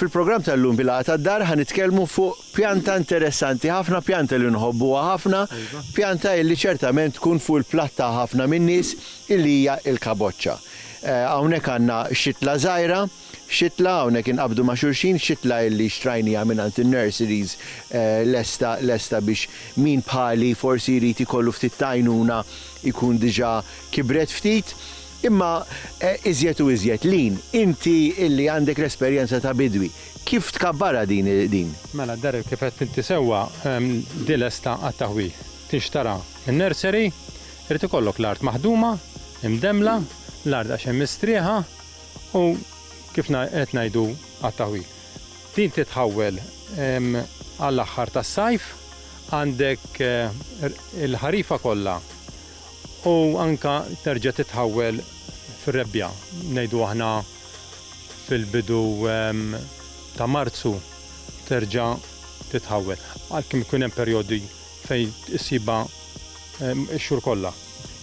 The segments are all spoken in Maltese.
Fil-programm tal-lum bil-għata tad-dar ħan nitkellmu fuq pjanta interessanti ħafna, pjanta li nħobbuha ħafna, pjanta illi ċertament tkun fuq il-platt ta' ħafna min-nies illi hija il-kaboċċa. Eh, hawnhekk għandna xitla żgħira, Xitla, hawnhekk inqabdu ma' xulxin, xitla illi xtrajniha mingħand in-nurseries lesta lesta biex min bħali forsi jrid ikollu ftit ta' għajnuna jkun diġà kibret ftit. Imma iżjed u iżjed, Lyn, inti illi għandek l-esperjenza ta' bidwi, kif tkabbarha din din? Mela Darryl kif għedt inti sewwa, din lesta għat-taħwil. Tinxtara min-nursery, irid ikollok l-art maħduma, imdemmla, l-art għax hemm mistrieħa, U kif qed ngħidu għat-taħwil. Din titħawwel għall-aħħar tas-sajf, għandek il-ħarifa kollha u anke terġa' titħawwel fir-Rebbja, ngħidu aħna fil-bidu ta' Marzu terġa' titħawwel. Għalkemm ikun hemm perjodi Fejn issibha x-xhur kollha.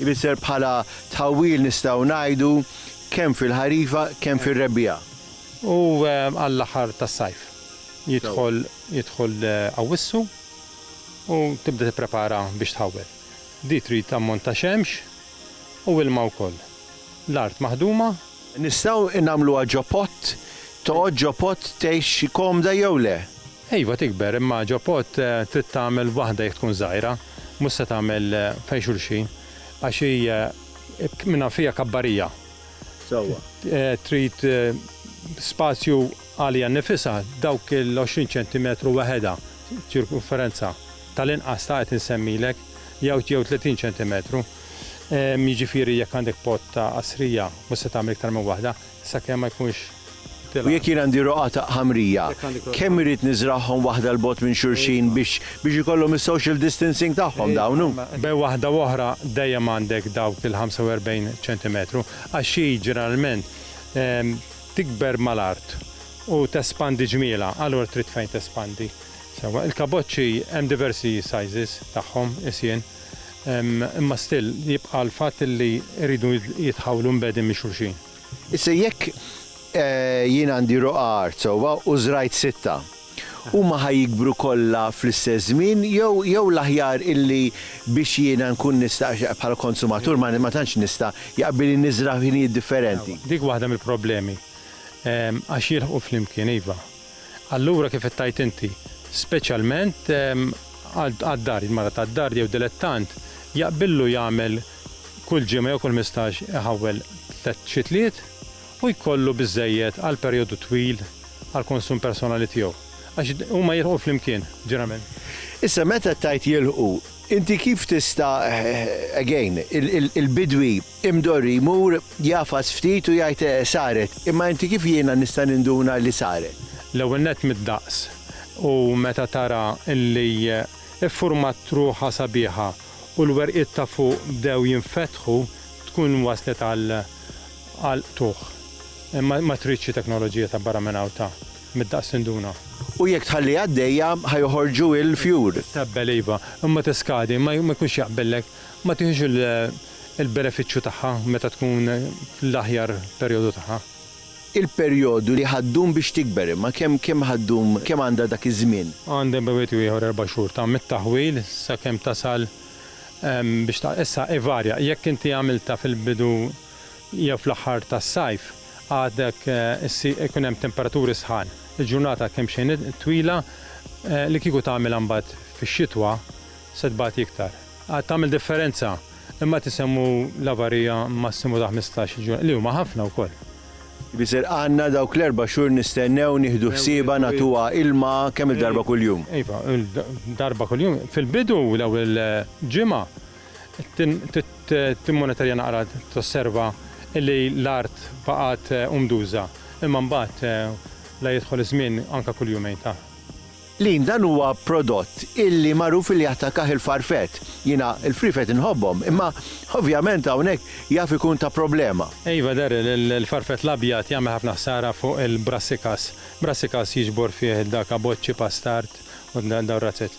Ifisser bħala tħawwil nistgħu ngħidu kemm fil-ħarifa kemm fir-rebbiegħa. U għall-aħħar tas-sajf. Jidħol jidħol Awwissu u tibda tipprepara biex tħawwel. Din trid ammont ta' xemx u ilma wkoll. L-art maħduma. Nistgħu nagħmluha ġo pott? Toqgħod ġo pott tgħix komda jew le? Iva tikber imma ġo pot trid tagħmel waħda jekk tkun żgħira, mhux se tagħmel fejn xulxin għax hi minnha fiha kabbarija. Sewwa. Trid spazju għaliha nnifisha, dawk l-20 ċentimetru weħedha ċirkumferenza tal-inqas ta' qed insemmilek jew 30 ċentimetru. Jiġifieri jekk għandek pot ta' qasrija mhux se tagħmel iktar minn waħda. Sakemm ma jkunx tilgħab. U jekk jien għandi roqataq ħamrija, kemm irrid niżragħhom waħda 'l bogħod minn xulxin biex biex ikollhom is-social distancing tagħhom dawn hu? Bejn waħda u oħra dejjem għandek dawk il-45 ċentimetru għax xi ġeneralment tikber mal-art u tespandi ġmielha, allura trid fejn tespandi. Sewwa, il-kaboċċi hemm diversi sizes tagħhom, is jien. Imma still jibqa' l-fatt li jridu jitħawlu mbegħdin minn xulxin. Issa jekk jien għandi roqgħa art sewwa u żrajt sitta, huma ħa jikbru kollha fl-istess żmien jew jew l-aħjar illi biex jiena nkun nista' għax bħala konsumatur ma ma tantx nista' jaqbilli niżra' f'ħinijiet differenti? Dik waħda mill-problemi għax jilħqu flimkien iva. Allura kif qed tgħid inti, speċjalment għad-dar, il-mara tad-dar jew dilettant jaqbillu jagħmel kull ġimgħa jew kull mistax iħawwel tliet xitliet u jkollu biżżejjed għal perjodu twil għall-konsum personali tiegħu. Għax huma jilħqu flimkien, ġeneralment. Issa meta tgħid jilħqu, inti kif tista', again, il-bidwi, Imdorri jmur, jagħfas ftit u jgħid, Saret, imma inti kif jiena nista' ninduna li saret? L-ewwel nett mid-daqs u meta tara li ffurmat ruħha sabiħa u l-werqiet ta' fuq bdew jinfetħu tkun waslet għal għal qtugħ. Ma tridx xi teknoloġija ta' barra minn hawn ta' mid-daqs tinduna. U jekk tħalliha għaddejja ħa joħorġu l-fjur. Tqebbel iva, imma tiskadi, ma jkunx jaqbillek, ma tiħux il. il-benefiċċju tagħha meta tkun fl-aħjar perjodu tagħha. Il-perjodu li ħa ddum biex tikber, imma kemm kemm ħa ddum, kemm għandha dak iż-żmien? Għandha bejn wieħed u ieħor erba' xhur ta' mit-taħwil sakemm tasal biex ta. Issa ivarja, jekk inti għamiltha fil-bidu jew fl-aħħar tas-sajf, għadek issi jkun hemm temperaturi sħan. Il-ġurnata kemmxejn twila li kieku tagħmilha mbagħad fix-xitwa se tbati iktar. Għad tagħmel differenza, imma tisemmu l-avarija massimu ta' ħmistax-il ġurnata, li huma ħafna wkoll. Bisirqanna dawk l-erba' xhur nistennew nieħdu ħsiebha nagħtuha ilma kemm-il darba kuljum. Iva, darba kuljum. Fil-bidu, l-ewwel ġimgħa, timmonitorja naqra tosserva li l-art baqgħet umduża, imma mbagħad la jidħol iż-żmien anke kull jumejn ta'. Lean dan huwa prodott illi magħruf illi jattakah il-farfet. Jiena l-friefet inħobbhom imma ovvjament hawnhekk jaf ikun ta' problema. Iva Darryl, il-farfet l-abjad jagħmel ħafna ħsara fuq il-brassicas. Brassicas jiġbor fih dak abocci, pastard u dawn ir-razzett.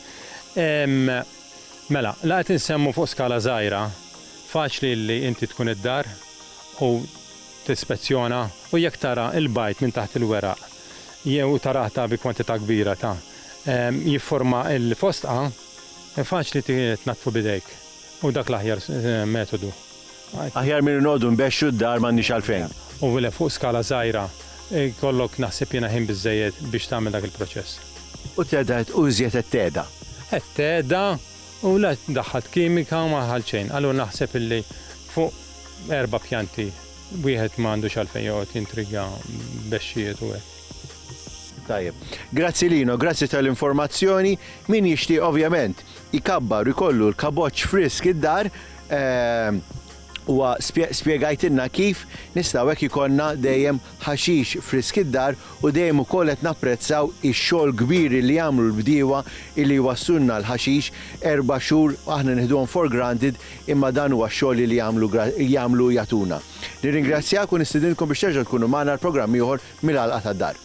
Mela, la qed insemmu fuq skala żgħira, faċli illi inti tkun id-dar u tispezzjona u jekk tara l-bajd minn taħt il-weraq, jew ta' rata bi kwantità kbira ta' jifforma l-fostqa, faċli tnaddfu b'idejk u dak l-aħjar metodu. Aħjar milli noqogħdu nbexxu d-dar m'għandniex għalfejn. U vile fuq skala żgħira jkollok naħseb jiena ħin biżżejjed biex tagħmel dak il-proċess. U teda qed u iżjed qed teda. Qed teda u la daħħalt kimika u ma daħħalt xejn. Allura naħseb illi fuq erba' pjanti. Wieħed ma għandux għalfejn joqgħod jintriga b'għexxijiet u hekk. Tajjeb. Grazzi Lino, grazzi tal-informazzjoni. Min jixtieq ovvjament ikabbar u jkollu l-kaboċċ frisk id-dar, ehm, huwa spjegajtilna kif nistgħu hekk ikollna dejjem ħaxix frisk id-dar u dejjem ukoll qed napprezzaw ix-xogħol kbir li jagħmlu l-bdiewa li jwassulna l-ħaxix erba' xhur aħna nieħduhom for granted imma dan huwa x-xogħol li jagħmlu jagħmlu jagħtuna. Nirringrazzjak u nistidinkom biex terġgħu tkunu magħna għal programm ieħor mill-Għalqa tad-Dar.